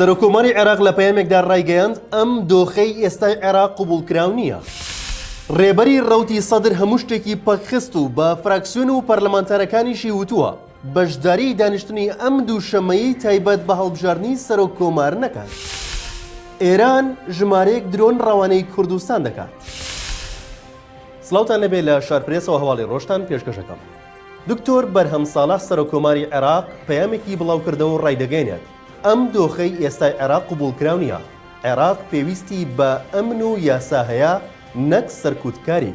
سەرۆکۆماری عێراق لە پەیامێکدا ڕایگەیاند ئەم دۆخەی ئێستای عێراق قوبول کراو نییە. ڕێبەری ڕوتی سەدر هەموو شتێکی پەکخست و بە فراکسیۆن و پەرلەمانتارەکانیشی وتووە بەشداری دانیشتنی ئەم دووشەمەیەی تایبەت بە هەڵبژاردنی سەرۆک کۆمار نەکات. ئێران ژمارەیەک درۆن ڕەوانەی کوردستان دەکات. سڵاوتان لەبێ لە شارپرێسەوە هەواڵی ڕۆژتان پێشکەش ئەکەم. دکتۆر بەرهەم ساڵح سەرۆک کۆماری عێراق پەیامێکی بڵاوکردەوەو ڕایدەگەیەنێت، ئەم دۆخەی ئێستای عێراق قبوڵکراو نییە، عێراق پێویستی بە ئەمن و یاسا هەیە نەک سەرکوتکاری.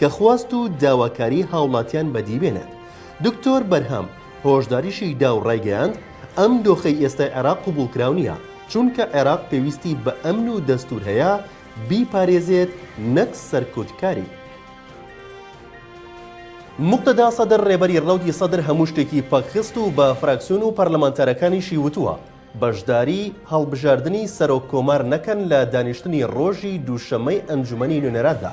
کە خواست و داواکاری هاوڵاتیان بەدی بێنێت. دکتۆر بەرهەم هۆشداریشی دا و ڕایگەیاند، ئەم دۆخەی ئێستای عێراق قبوڵکراو نییە، چونکە عێراق پێویستی بە ئەمن و دەستوور هەیە بیپارێزێت نەک سەرکوتکاری. موقتەدا سەدر ڕێبەری ڕەوتی سەدر هەموو شتێکی پەکخست و بە فراکسیۆن و پەرلەمانتارەکانیشی وتووە، بەشداری هەڵبژاردنی سەرۆککۆمار نەکەن لە دانیشتنی ڕۆژی دووشەممەی ئەنجومەنی نوێنەراندا،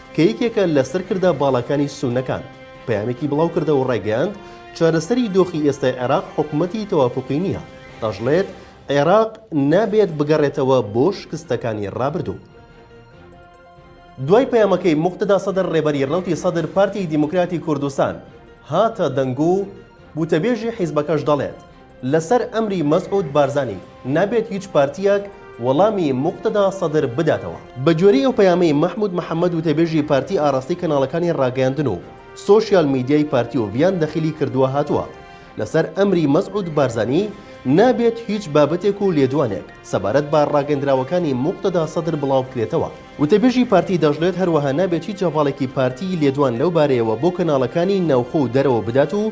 کە یەکێکە لە سەرکردە باڵاکانی سوننەکان، پەیامێکی بڵاوکردەوە و ڕایگەیاند، چارەسەری دۆخی ئێستای عێراق حکومەتی تەوافوقی نییە، دەشڵێت، عێراق نابێت بگەڕێتەوە بۆ شکستەکانی ڕابردوو. دوای پەیامەکەی موقتەدا سەدر ڕێبەری ڕەوتی سەدر پارتی دیموکراتی کوردستان هاتە دەنگۆ و گوتەبێژی حیزبەکەش دەڵێت، لەسەر ئەمری مەسعود بارزانی نابێت هیچ پارتییەک وەڵامی موقتەدا سەدر بداتەوە. بە گوێرەی ئەو پەیامەی مەحمود محەمەد وتەبێژی پارتی ئاراستەی کەناڵەکانی ڕاگەیاندن و سۆشیال میدیای پارتی و ڤیان دەخیلی کردووە هاتووە لەسەر ئەمری مەسعود بارزانی نابێت هیچ بابەتێک و لێدوانێک سەبارەت بە ڕاگەندراوەکانی موقتەدا سەدر بڵاو بکرێتەوە. وتەبێژی پارتی دەشڵێت هەروەها نابێت هیچ هەڤاڵێکی پارتی لێدوان لەو بارەیەوە بۆ کەناڵەکانی ناوخۆ و دەرەوە بدات و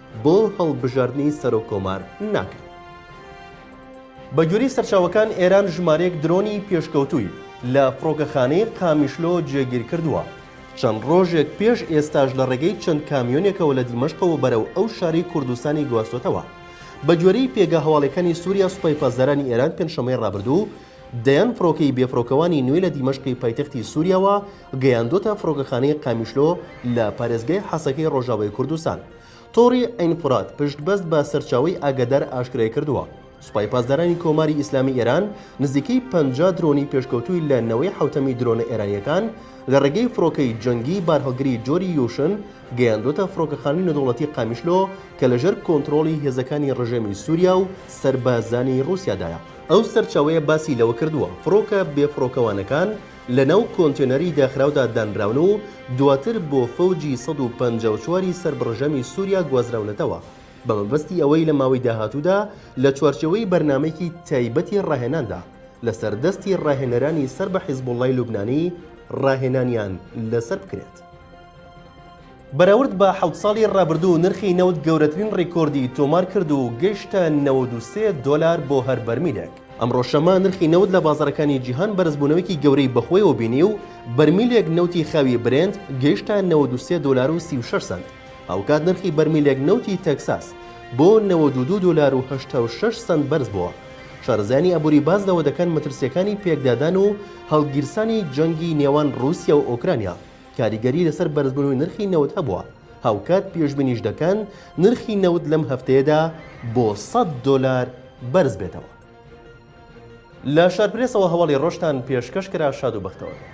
بۆ هەڵبژاردنی سەرۆک کۆمار ناکەن. بە گوێرەی سەرچاوەکان ئێران ژمارەیەک درۆنی پێشکەوتووی لە فڕۆکەخانەی قامیشلۆ جێگیر کردووە، چەند ڕۆژێک پێش ئێستاش لە ڕێگەی چەند کامیۆنێکەوە لە دیمەشقەوە بەرەو ئەو شارەی کوردستانی گواستووەتەوە. بە گوێرەی پێگە هەواڵیەکانی سوریا سوپای پاسدارانی ئێران پێنجشەممەی ڕابردوو دەیان فڕۆکەی بێفڕۆکەوانی نوێ لە دیمەشقی پایتەختی سوریاوە گەیاندووەتە فڕۆکەخانەی قامیشلۆ لە پارێزگای حەسەکەی ڕۆژاوای کوردستان. تۆڕی عەین فورات پشتبەست بە سەرچاوەی ئاگادار ئاشکرایکردووە، سوپای پاسدارانی کۆماری ئیسلامی ئێران نزیکەی پەنجا درۆنی پێشکەوتووی لە نەوەی حەوتەمی درۆنە ئێرانییەکان لە ڕێگەی فڕۆکەی جەنگی بارهەڵگری جۆری یوشن گەیاندووەتە فڕۆکەخانەی نێودەوڵەتی قامیشلۆ کە لەژێر کۆنترۆڵی هێزەکانی ڕژێمی سووریا و سەربازانی ڕووسیادایە. ئەو سەرچاوەیە باسی لەوەکردووە، فڕۆکە بێفڕۆکەوانەکان، لەناو کۆنتێنەری داخراودا دانراون و دواتر بۆ فەوجی سەد و پەنجا و چوار ی سەر بڕژەمی سوریا گوازراونەتەوە بە مەبەستی ئەوەی لە ماوەی داهاتوودا لە چوارچێوەی بەرنامەیەکی تایبەتی ڕاهێناندا لەسەر دەستی ڕاهێنەرانی سەر بە حیزبوڵڵای لوبنانی ڕاهێنانیان لەسەر بکرێت. بەراورد بە حەوت ساڵی ڕابردوو نرخی نەوت گەورەترین ڕیکۆردی تۆمار کرد و گەیشتە نەوەد و سێ دۆلار بۆ هەر بەرمیلێک. ئەمڕۆ شەممە نرخی نەوت لە بازاڕەکانی جیهان بەرزبوونەوەیەکی گەورەی بەخۆیەوە بینی و بەرمیلێک نەوتی خاوی برێنت گەیشتە نەوەد و سێ دۆلار و سی و شەش سەنت، هاوکات نرخی بەرمیلێک نەوتی تەکساس بۆ نەوەد و دوو دۆلار و هەشتا و شەش سەنت بەرزبووە. شارەزایانی ئابووری باس لەوە دەکەن مەترسییەکانی پێکدادان و هەڵگیرسانی جەنگی نێوان ڕووسیا و ئۆکرانیا، کاریگەری لەسەر بەرزبوونەوەی نرخی نەوت هەبووە، هاوکات پێشبینیش دەکەن نرخی نەوت لەم هەفتەیەدا بۆ سەد دۆلار بەرزبێتەوە. لە شارپرێسەوە هەواڵی ڕۆژتان پێشکەش کرا شاد و بەختەوەر بن.